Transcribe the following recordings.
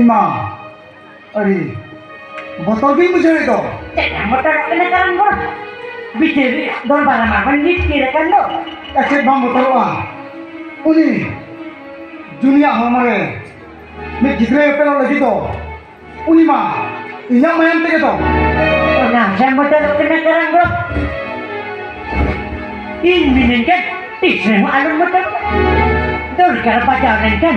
ᱤᱢᱟ ᱟᱹᱰᱤ ᱵᱚᱛᱚᱨ ᱜᱤᱧ ᱵᱩᱡᱷᱟᱹᱣᱮᱫ ᱫᱚ ᱪᱮᱫ ᱵᱚᱛᱚᱨ ᱠᱟᱱᱟ ᱠᱟᱨᱚᱱ ᱵᱚᱱ ᱵᱤᱪᱟᱹᱨ ᱫᱚᱨᱵᱟᱨ ᱢᱟ ᱵᱚᱱ ᱱᱤᱛ ᱛᱤᱨ ᱟᱠᱟᱱ ᱫᱚ ᱮᱥᱮᱫ ᱵᱟᱢ ᱵᱚᱛᱚᱨᱚᱜᱼᱟ ᱩᱱᱤ ᱡᱩᱱᱤᱭᱟᱜ ᱦᱚᱲᱢᱚ ᱨᱮ ᱢᱤᱫ ᱜᱤᱫᱽᱨᱟᱹ ᱮᱯᱮᱞᱚᱜ ᱞᱟᱹᱜᱤᱫ ᱫᱚ ᱩᱱᱤ ᱢᱟ ᱤᱧᱟᱹᱜ ᱢᱟᱭᱟᱢ ᱛᱮᱜᱮ ᱫᱚ ᱚᱱᱟ ᱦᱮᱸ ᱵᱚᱛᱚᱨ ᱠᱟᱱᱟ ᱠᱟᱨᱚᱱ ᱵᱚᱱ ᱤᱧ ᱢᱤᱱᱟᱹᱧ ᱠᱟᱱ ᱛᱤᱥ ᱨᱮᱦᱚᱸ ᱟᱞᱚᱢ ᱵᱚᱛᱚᱨᱚᱜᱼᱟ ᱫᱚᱨᱠᱟᱨ ᱵᱟᱡᱟᱣ ᱞᱮᱱᱠᱷᱟᱱ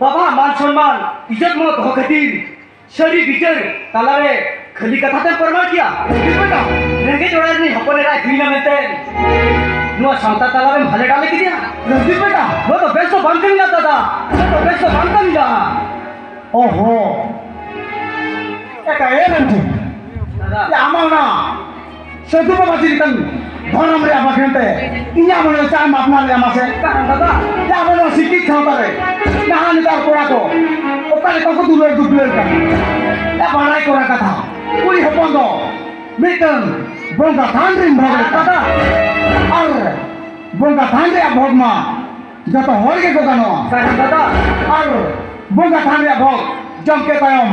ᱵᱟᱵᱟ ᱢᱟᱱ ᱥᱚᱱᱢᱟᱱ ᱤᱡᱚᱛ ᱢᱚ ᱫᱚᱦᱚ ᱠᱷᱟᱹᱛᱤᱨ ᱥᱟᱹᱨᱤ ᱵᱤᱪᱟᱹᱨ ᱛᱟᱞᱟᱨᱮ ᱠᱷᱟᱹᱞᱤ ᱠᱟᱛᱷᱟ ᱛᱮᱢ ᱯᱨᱚᱢᱟᱱ ᱠᱮᱭᱟ ᱨᱮᱸᱜᱮᱡ ᱚᱲᱟᱜ ᱨᱤᱱᱤᱡ ᱦᱚᱯᱚᱱ ᱮᱨᱟᱭ ᱦᱩᱭᱱᱟ ᱢᱮᱱᱛᱮ ᱱᱚᱣᱟ ᱥᱟᱶᱛᱟ ᱛᱟᱞᱟᱨᱮᱢ ᱦᱟᱞᱮ ᱰᱟᱞᱮ ᱠᱮᱫᱮᱭᱟ ᱨᱚᱵᱤ ᱵᱮᱴᱟ ᱱᱚᱣᱟ ᱫᱚ ᱵᱮᱥ ᱫᱚ ᱵᱟᱝ ᱠᱟᱹᱢᱤᱭᱟ ᱫᱟᱫᱟ ᱱᱚᱣᱟ ᱫᱚ ᱵᱮᱥ ᱫᱚ ᱵᱟᱝ ᱠᱟᱹᱢᱤᱭᱟ ᱚᱦᱚ ᱮᱠᱟ ᱮ ᱢᱮᱱᱛᱮ ᱫᱟᱫᱟ ᱟᱢᱟᱜ ᱚᱱᱟ ᱥᱮ ᱫᱩ ᱵᱟᱵᱟ ᱪᱮᱫ ᱞᱮᱠᱟᱱ ᱫᱷᱚᱨᱚᱢ ᱨᱮᱭᱟᱜ ᱵᱟᱠᱷᱮᱬ ᱛᱮ ᱤᱧᱟᱹᱜ ᱢᱚᱱᱮ ᱪᱟ ᱮᱢ ᱟᱯᱱᱟᱨ ᱞᱮᱭᱟ ᱢᱟᱥᱮ ᱫᱟᱫᱟ ᱡᱟ ᱟᱵᱚ ᱱᱚᱣᱟ ᱥᱤᱠᱤᱛ ᱥᱟᱶᱛᱟ ᱨᱮ ᱱᱟᱦᱟᱜ ᱱᱮᱛᱟᱨ ᱠᱚᱲᱟ ᱠᱚ ᱚᱠᱟ ᱞᱮᱠᱟ ᱠᱚ ᱫᱩᱞᱟᱹᱲ ᱫᱩᱯᱞᱟᱹᱲ ᱠᱟᱱᱟ ᱮ ᱵᱟᱲᱟᱭ ᱠᱚᱲᱟ ᱠᱟᱛᱷᱟ ᱠᱩᱲᱤ ᱦᱚᱯᱚᱱ ᱫᱚ ᱢᱤᱫᱴᱟᱝ ᱵᱚᱸᱜᱟ ᱛᱷᱟᱱ ᱨᱤᱱ ᱵᱷᱚᱜᱽ ᱫᱟᱫᱟ ᱟᱨ ᱵᱚᱸᱜᱟ ᱛᱷᱟᱱ ᱨᱮᱭᱟᱜ ᱵᱷᱚᱜᱽ ᱢᱟ ᱡᱚᱛᱚ ᱦᱚᱲ ᱜᱮᱠᱚ ᱜᱟᱱᱚᱜᱼᱟ ᱫᱟᱫᱟ ᱟᱨ ᱵᱚᱸᱜᱟ ᱛᱷᱟᱱ ᱨᱮᱭᱟᱜ ᱵᱷᱚᱜᱽ ᱡᱚᱢ ᱠᱮᱫ ᱛᱟᱭᱚᱢ